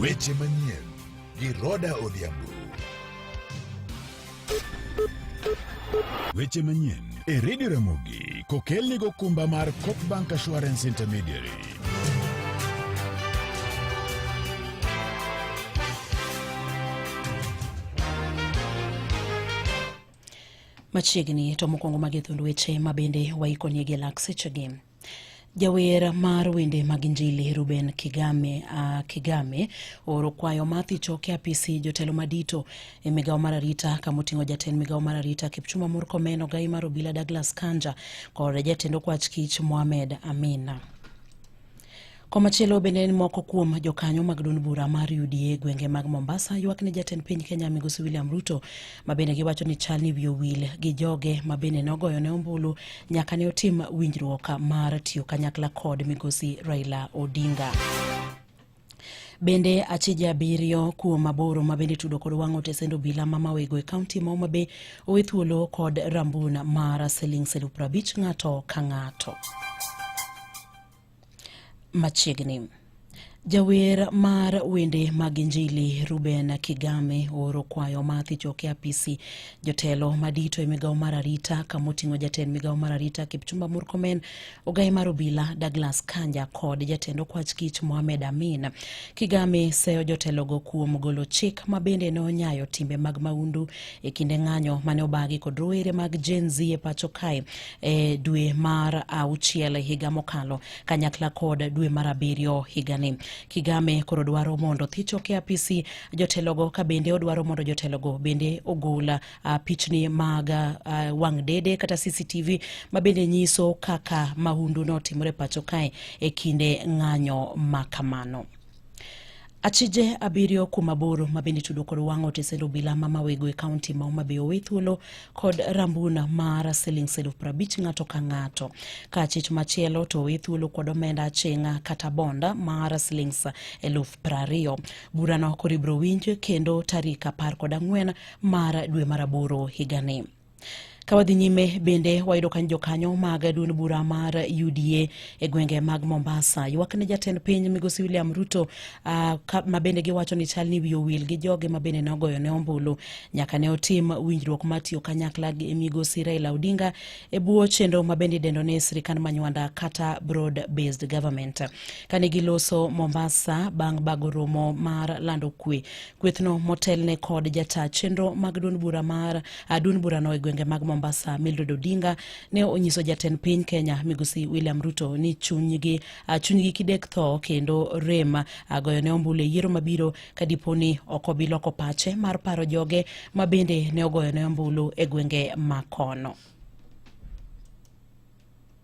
Weche manyien gi Roda Odhiambo. Weche manyien e Redio Ramogi kokelni gokumba mar Copbank Assurance Intermediary. machiegni to mokwongo magi thund weche ma bende waikonie gi lak sechegi Jawer mar wende mag Injili Ruben Kigame, uh, Kigame oro kwayo ma thichoke apisi jotelo madito e migawo mar arita kama oting'o jatend migawo mar arita Kipchumba Murkomen, ogayi mar obila Douglas Kanja kod jatend okwach kich Mohamed Amina. Komachielo bende ni moko kuom jokanyo mag duond bura mar UDA gwenge mag Mombasa ywak ni jatend piny Kenya Migosi William Ruto ma bende giwacho ni chal ni wiye wil gi joge ma bende nogoyo ne ombulu nyaka ne otim winjruok mar tiyo kanyakla kod Migosi Raila Odinga. Bende achije abiriyo kuom aboro ma bende tudo kod wang'o tesend obila ma mawego e kaunti ma Homa Bay owe thuolo kod rambun mar siling' silu prabich ng'ato ka ng'ato. machiegni. Jawer mar wende mag Injili Ruben Kigame ooro kwayo ma thichoke apisi jotelo madito e migawo mar arita kama oting'o jatend migawo mar arita Kipchumba Murkomen, ogaye mar obila Douglas Kanja kod jatend okwach kich Mohamed Amin. Kigame seyo jotelogo kuom golo chik ma bende ne onyayo timbe mag maundu e kinde ng'anyo mane obagi kod rowere mag Gen Z e pacho kae e dwe mar auchiel higa mokalo kanyakla kod dwe mar abiriyo higani. Kigame koro dwaro mondo thicho ke apisi jotelogo ka bende odwaro mondo jotelogo bende ogol uh, pichni mag uh, wang' dede kata CCTV ma bende nyiso kaka mahundu notimore pacho kae e kinde ng'anyo ma kamano. Achije abiriyo kuom aboro ma bende tudo kod wang' otesend obila ma mawego e kaunti ma Homa Bay owe thuolo kod rambuna mar siling elfu prabich ng'ato ka ng'ato. Ka achich machielo to owe thuolo kod omenda aching'a kata bonda mar siling elfu prariyo. Burano koro ibiro winj kendo tarik apar kod ang'wen mar dwe mar aboro higani. Ka wadhi nyime bende wayudo ka jokanyo mag duond bura mar UDA e gwenge mag Mombasa ywak ne jatend piny migosi William Ruto uh, ka, ma bende giwacho ni chal ni wiye owil gi joge ma bende ne ogoyo ne ombulu nyaka ne otim winjruok mar tiyo kanyakla gi migosi Raila Odinga e bwo chenro ma bende idendo ni sirikand manywanda kata broad based government. Kane giloso Mombasa bang' bago romo mar lando kwe Kwethno motelne kod jata chenro mag duond bura mar ah, duond burano e gwenge mag Mombasa Mildred Odinga ne onyiso jatend piny Kenya Migosi William Ruto ni chunygi ah, chunygi kidek tho kendo rem ah, goyo ne ombulu e yiero mabiro ka dipo ni ok obi loko pache mar paro joge ma bende ne ogoyo ne ombulu e gwenge ma kono.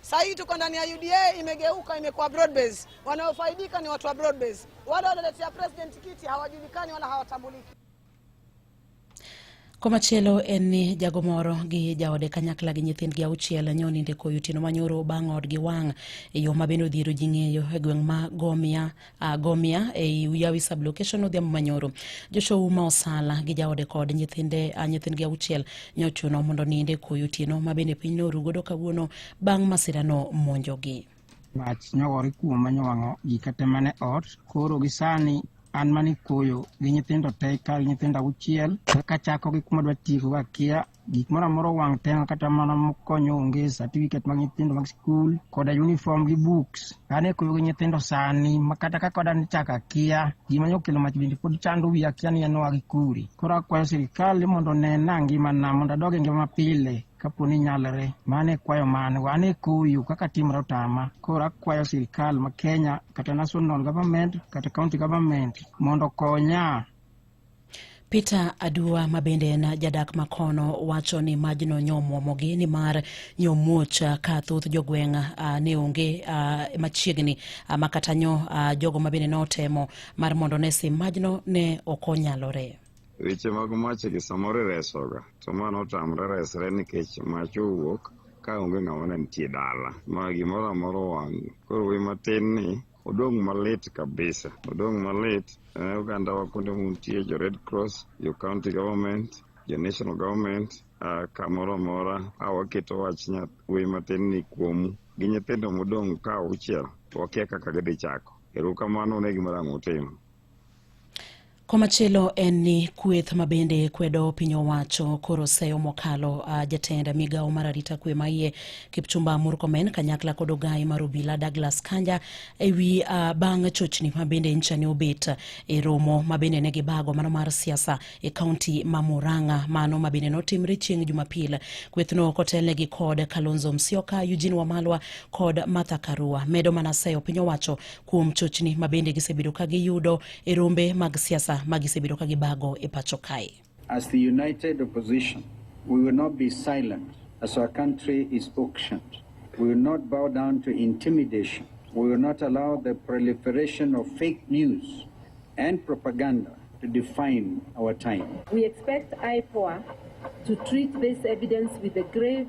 Sasa hii tuko ndani ya UDA imegeuka, imekuwa broad base. Wanaofaidika ni watu wa broad base. Wale wanaoletea president kiti hawajulikani wala hawatambuliki. Komachielo en ni jago moro gi jaode kanyakla gi nyithindgi auchiel nyo ninde koyo otieno manyoro bang' odgi wang' e yo ma bende odhiero ji ng'eyo e gweng' ma Gomia uh, Gomia ei Uyawi sublocation Odhiambo Manyoro. Joshua Uma Osala gi jaode kod nyithinde uh, nyithindgi auchiel nyochuno mondo niinde koyo otieno ma bende piny norugodo kawuono bang' masirano monjogi. Mach nyogore kuoma nyowang'o gika te mane ot koro gi sani an mane koyo gi nyithindo te ka nyithindo auchiel kaka chako gi kuma dwa tieko kakia Gik moro amora owang' te kata mana mokonyo onge certificate mag nyithindo mag skul koda uniform gi books. An e koyo gi nyithindo sani ma kata kaka wadani chak akia gima nokelo mach bende pod chando wiya akia ni en oa gi kure. Koro akwayo sirikal ni mondo onena ngimana mondo adog e ngima mapile kapo ni nyalore. Mano e kwayo mane wan e koyo kaka timre otama. Koro akwayo sirikal ma Kenya kata national government kata county government mondo okonya Peter Adua ma bende en jadak makono wacho ni majno nyomwomogi ni mar nyomuoch ka thoth jogweng' uh, ne onge uh, machiegni uh, ah, makata nyo uh, jogo ma bende notemo mar mondo ne sim majno ne ok onyalore. Weche mag mach gi samoro iresoga to ma notamre resre nikech mach owuok ka onge ng'ama ne nitie dala ma gimoro amoro wang' koro we matin ni Odong' malit kabisa, odong' malit eh, oganda wa kuonde muntie jo Red Cross, jo county government, jo national government uh, kamoro amora a waketo wach nyath wuoyi matin ni kuomu gi nyithindo modong' ka auchiel wakia kaka gidhi chako. Erokamano ne gima rang' utimo. Komachielo en ni kweth ma bende kwedo piny owacho koro seyo mokalo uh, ah, jatend migawo mar arita kwe maiye Kipchumba Murkomen kanyakla kod ogayi mar obila Douglas Kanja ewi uh, ah, bang' chochni ma bende ncha ne obet e romo ma bende ne gibago mano mar siasa e kaunti ma Murang'a mano ma bende notimre chieng' Jumapil. Kwethno kotelne gi kod Kalonzo Musyoka, Eugene Wamalwa kod Martha Karua medo mana seyo piny owacho kuom chochni ma bende gisebedo ka giyudo e rombe mag siasa ma gisebedo ka gibago e pacho kae. As the united opposition, we will not be silent as our country is auctioned. We will not bow down to intimidation. We will not allow the proliferation of fake news and propaganda to define our time. We expect IPOA to treat this evidence with a grave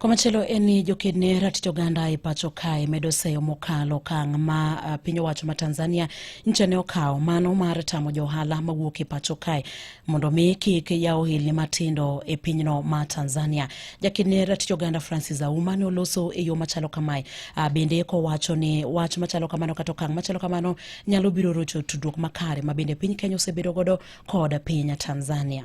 Komachielo en ni joked ne ratich oganda e pacho kae medo seyo mokalo okang' ma uh, piny owacho ma Tanzania nyicha ne okawo mano mar tamo johala mawuok e pacho kae mondo mi kik yaw ohelni matindo e pinyno ma Tanzania. Jaked ne ratich oganda Francis Auma ne oloso e yo machalo kamae uh, bende kowacho ni wach machalo kamano kata okang' machalo kamano nyalo biro rocho tudruok makare ma bende piny Kenya osebedo godo kod piny Tanzania.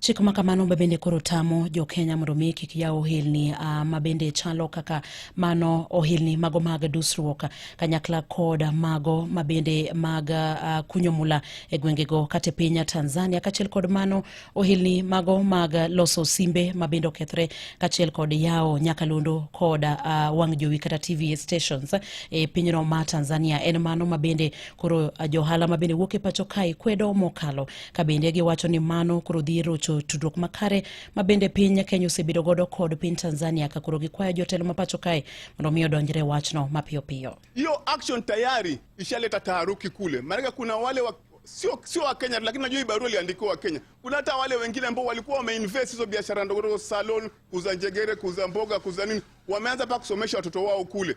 Chik ma kamano ma bende koro tamo jo Kenya mondo mi kik yaw ohilni uh, ma bende chalo kaka mano ohilni mago mag dusruok kanyakla kod mago ma bende mag uh, kunyo mula e gwengego kata e piny Tanzania kachiel kod mano ohilni mago mag loso simbe ma bende okethre kachiel kod yawo nyakalondo kod uh, wang' jowi kata TV stations e pinyno ma Tanzania en mano ma bende koro uh, johala ma bende wuok e pacho kae kwedo mokalo ka bende giwacho ni mano koro dhi rocho tudruok makare ma bende piny Kenya osebedo godo kod piny Tanzania ka koro gikwayo jotelo ma pacho kae mondo mi odonjre wachno mapiyo piyo. Hiyo action tayari ishaleta taharuki kule, maanake kuna wale wa sio sio wa Kenya, lakini najua hii barua iliandikiwa wa Kenya. Kuna hata wale wengine ambao walikuwa wameinvest hizo biashara ndogo ndogo, salon, kuuza njegere, kuuza mboga, kuuza nini, wameanza pa kusomesha watoto wao kule.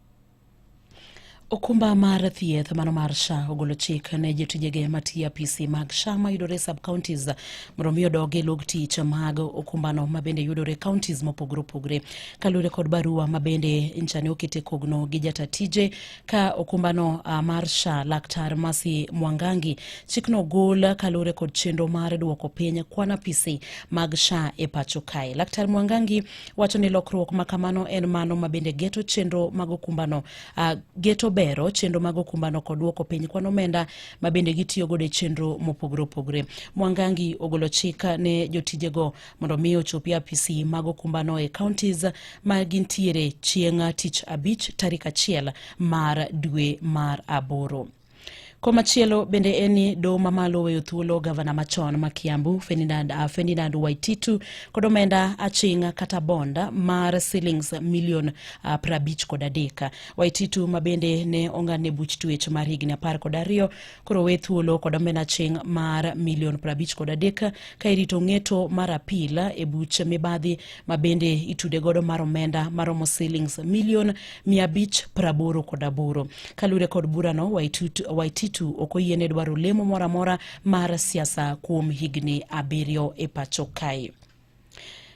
Okumba mar thieth mano mar SHA ogolo chik ne jotijege matiyo apisi mag SHA mayudore sub counties mondo omi odog e log tich mag okumbano mabende yudore counties mopogore opogore kaluwore kod barua mabende nchane okete kogno gi jata tije ka okumbano ah, mar SHA laktar Masi Mwangangi chikno ogol kaluwore kod chenro mar duoko piny kwan apisi mag SHA e pacho kae laktar Mwangangi wacho ni lokruok ma kamano en mano ma bende geto chenro mag okumbano uh, geto bero chenro mag okumbano kod duoko piny kwan omenda ma bende gitiyo godo e chenro mopogore opogore mwangangi ogolo chik ne jotijego mondo mi ochopi apisi mag okumbano e counties ma gintiere chieng' tich abich tarik achiel mar dwe mar aboro Komachielo bende en ni doho mamalo oweyo thuolo gavana machon ma Kiambu Ferdinand, uh, Ferdinand Waititu kod omenda aching' kata bond mar silings milion uh, prabich kod adek. Waititu ma bende ne ong'adne buch tuech mar higni apar kod ariyo koro owe thuolo kod omenda aching' mar milion prabich kod adek ka irito ng'eto mar apil e buch mibadhi ma bende itude godo mar omenda maromo silings milion mia abich praboro kod aboro. Kalure kod burano, Waititu ok oyiene dwaro lemo moro amora mar siasa kuom higni abiriyo e pacho kae.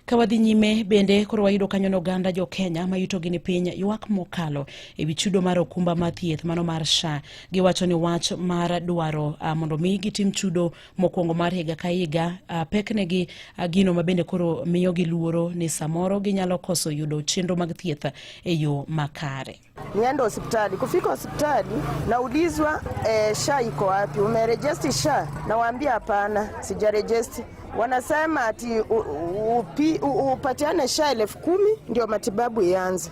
Ka wadhi nyime bende koro wayudo kanyo ni oganda jo Kenya ma yutogi ni piny ywak mokalo e wi chudo mar okumba mar thieth mano mar SHA. Giwacho ni wach mar dwaro uh, mondo mi gitim chudo mokwongo mar higa ka higa uh, peknegi uh, gino ma bende koro miyogi luoro ni samoro ginyalo koso yudo chenro mag thieth e yo makare. Nienda hospitali, kufika hospitali naulizwa eh, sha iko wapi, umerejesti sha? Nawaambia hapana, sijarejesti. Wanasema ati upatiane sha elfu kumi ndio matibabu ianze.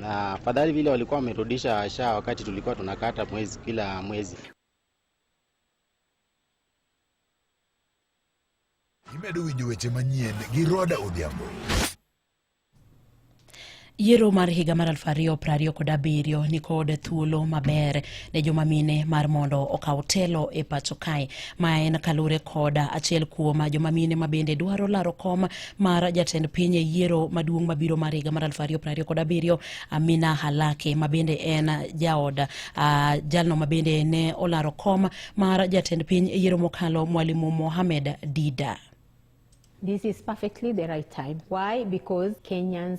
na afadhali vile walikuwa wamerudisha sha wakati tulikuwa tunakata mwezi kila mwezi. Imedo winjo weche manyien gi Roda Odhiambo. Yiero mar higa mar aluf ariyo piero ariyo kod abiriyo nikod thuolo maber ne joma mine mar mondo okaw telo e pacho kae ma en kalure kod achiel kuom joma mine ma bende dwaro laro kom mar jatend piny e yiero maduong' mabiro mar higa mar 2027 kod abiriyo Amina Halake mabende en jaod uh, jalno mabende ne olaro kom mar jatend piny e yiero mokalo Mwalimu Mohamed Dida. This is perfectly the right time. Why? Because Kenyans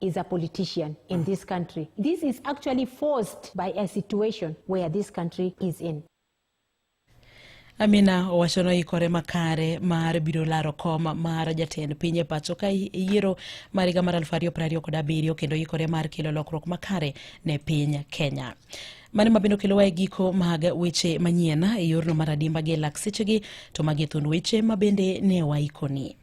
is a politician in mm. this country. This is actually forced by a situation where this country is in. Amina owacho noikore makare mar biro laro kom mar jatend piny e pacho ka yiero mar higa mar 2027 kendo ikore mar kelo lokruok makare ne piny Kenya. Mane ma bende okelowa e giko mag weche manyien e yorno mar adimba gi lak sechegi to magi thund weche ma bende ne waikoni.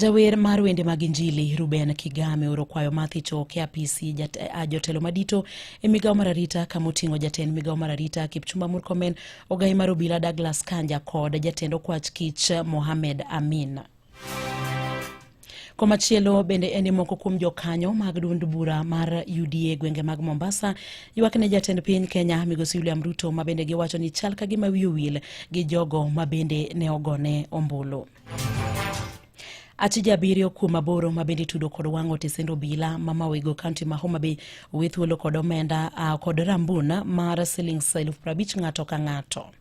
Jawer mar wende mag Injili Ruben Kigame oro kwayo ma thicho ke apisi jat, a, jotelo madito e migawo mar arita kama oting'o jatend migawo mar arita Kipchumba Murkomen, ogai mar obila Douglas Kanja kod jatend okwach kich Mohamed Amin. Komachielo bende en ni moko kuom jokanyo mag duond bura mar UDA gwenge mag Mombasa ywak ne jatend piny Kenya Migosi William Ruto ma bende giwacho ni chal ka gima wiye owil gi jogo ma bende ne ogone ombulu. Achije abiriyo kuom aboro ma bende itudo kod wang' otesend obila ma mawego kaunti ma Homa Bay owe thuolo kod omenda kod rambun mar siling' elfu prabich ng'ato ka ng'ato.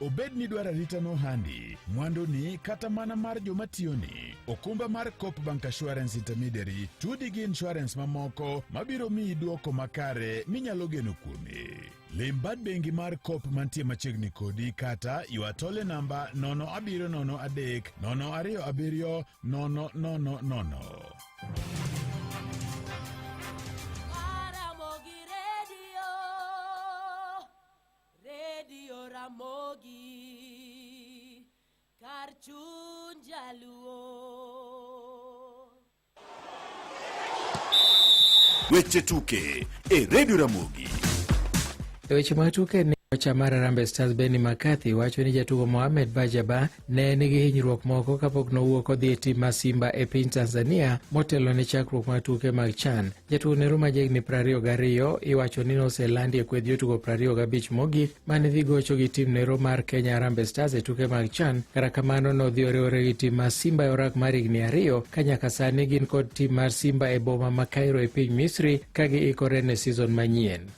Obed ni dwaro arita no handi, mwandu ni kata mana mar joma tiyo ni, okumba mar Coop Bank Assurance Intermediary tudi gi insurance mamoko mabiro miyi duoko makare minyalo geno kuome. Lim bad bengi mar Coop mantie machiegni kodi kata ywa tole namba 0703 027 000. Radio Ramogi, kar chuny jaluo. Weche tuke e Radio Ramogi. E weche matuke ni kocha mar Harambee Stars Benni McCarthy wacho ni jatugo Mohamed Bajaba ne nigi hinyruok moko kapok nowuok odhi e tim mar Simba e piny Tanzania motelo ne chakruok mar tuke mag CHAN. Jatugo Nero ma jahigni prariyo gariyo iwacho ni noselandi e kweth jotugo prariyo gabich mogik mane dhi gocho gi tim Nero mar Kenya Harambee Stars e tuke mag CHAN. Kata kamano nodhi oriwore gi tim mar Simba e orak mar higni ariyo ka nyaka sani gin kod tim mar Simba e boma ma Cairo e piny Misri ka giikore ne season manyien.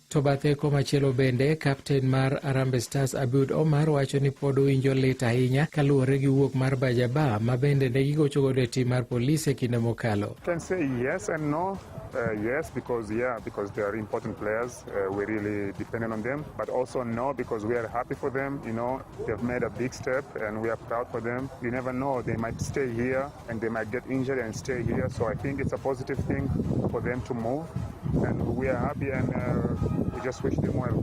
To bathe komachielo bende, kapten mar Arambe Stars Abiud Omar wacho ni pod owinjo lit ahinya kaluwore gi wuok mar Bajaba ma bende ne gigocho godo e tim mar polis e kinde mokalo. Can say yes and no. Uh, yes, because yeah, because they are important players. Uh, we're really dependent on them, but also no, because we are happy for them. You know, they've made a big step, and we are proud for them. You never know; they might stay here. and they might get injured and stay here. So I think it's a positive thing for them to move, and we are happy and uh, we just wish them well.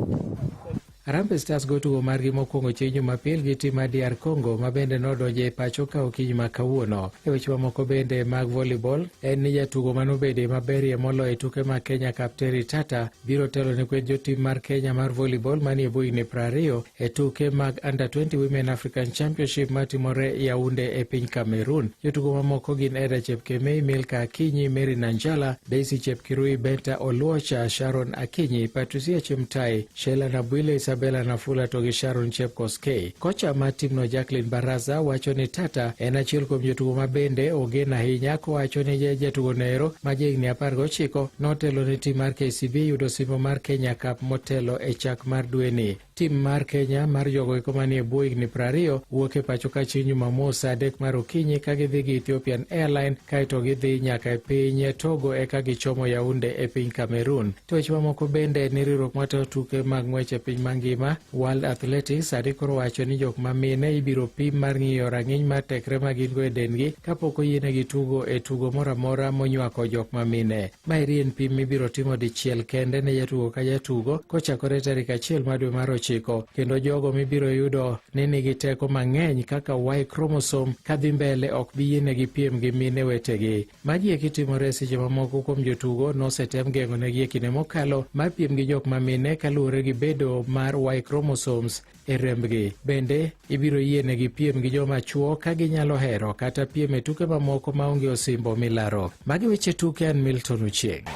Harambee Stars go tugo margi mokwongo chieng' Jumapil gi tim mar DR Congo ma bende nodonjo e pacho ka okinyi ma kawuono. E weche mamoko bende mag volleyball, en ni jatugo manobedo e maberie moloyo e tuke mag Kenya Kapteri Tata biro telo ne kweth jotim mar Kenya mar volleyball manie buini prariyo e tuke mag Under 20 Women African Championship matimore Yaounde e piny Cameroon. Jotugo mamoko gin Eda Chepkemei, Milka Akinyi, Mary Nanjala, Daisy Chepkirui, Benta Oluocha, Sharon Akinyi, Patricia Chemtai, Sheila Nabwile, Isabella Nafula to gi Sharon Chepkoskei. Kocha mar timno Jacqueline Baraza wacho ni Tata en achiel kuom jotugo ma bende ogen ahinya kowacho ni jatugo noero ma jahigni apar gochiko notelo ne tim mar KCB yudo osimbo mar Kenya Cup motelo e chak mar dweni. Tim mar Kenya mar jogo eko manie bwo higni prariyo wuok e pacho ka chieng' Jumamos saa adek mar okinyi ka gidhi gi Ethiopian Airline kaeto gidhi nyaka e piny Togo eka gichomo Yaunde e piny Cameroon. To weche mamoko bende ni riwruok matayo tuke mag ng'wech e piny mangima World Athletics sani koro wacho ni jok ma mine ibiro pim mar ng'iyo rang'iny mar tekre ma gin-go e dendgi kapok oyienegi tugo e tugo moro amora monywako jok ma mine. Maeri en pim mibiro timo dichiel kende ne jatugo ka jatugo kochakore tarik achiel mar dwe mar ochiko kendo jogo mibiro yudo ni nigi teko mang'eny kaka Y chromosome kadhi mbele ok bi yienegi piem gi mine wetegi. Magi eki timore seche ma moko kuom jotugo nosetem geng'onegi e kinde mokalo mar piem gi jok ma mine kaluwore gi bedo mar Y chromosomes e rembgi. Bende, ibiro yienegi piem gi joma chwo ka ginyalo hero kata piem e tuke mamoko maonge osimbo milaro. Magi weche tuke an Milton Ochieng'.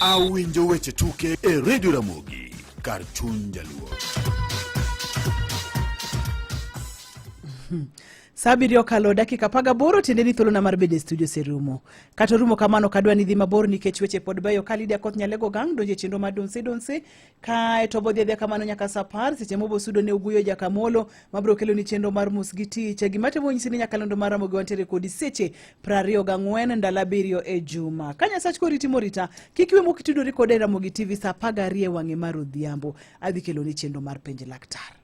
Awinjo weche tuke e Radio Ramogi kar chuny jaluo. Sa abiriyo okalo dakika apar gaboro tiende ni thuolona mar bedo e studio oserumo. Kata orumo kamano ok adwa ni dhi mabor nikech weche pod beyo ka Lydia Koth Nyalego Gang donjo e chenro mar Donse Donse kae to bodhi adhiya kamano nyaka sa apar seche mobo sudo ne Oguyo Jakamolo mabiro kelo ni chenro mar Mos gi Tich. E gima temo nyisi ni nyakalondo mar Ramogi wantiere kodi seche prariyo gang'wen ndalo abiriyo e juma. Ka Nyasach koriti morita kik iwe mok itudori koda e Ramogi TV sa apar gariyo e wang'e mar odhiambo adhi kelo ni chenro mar penj laktar.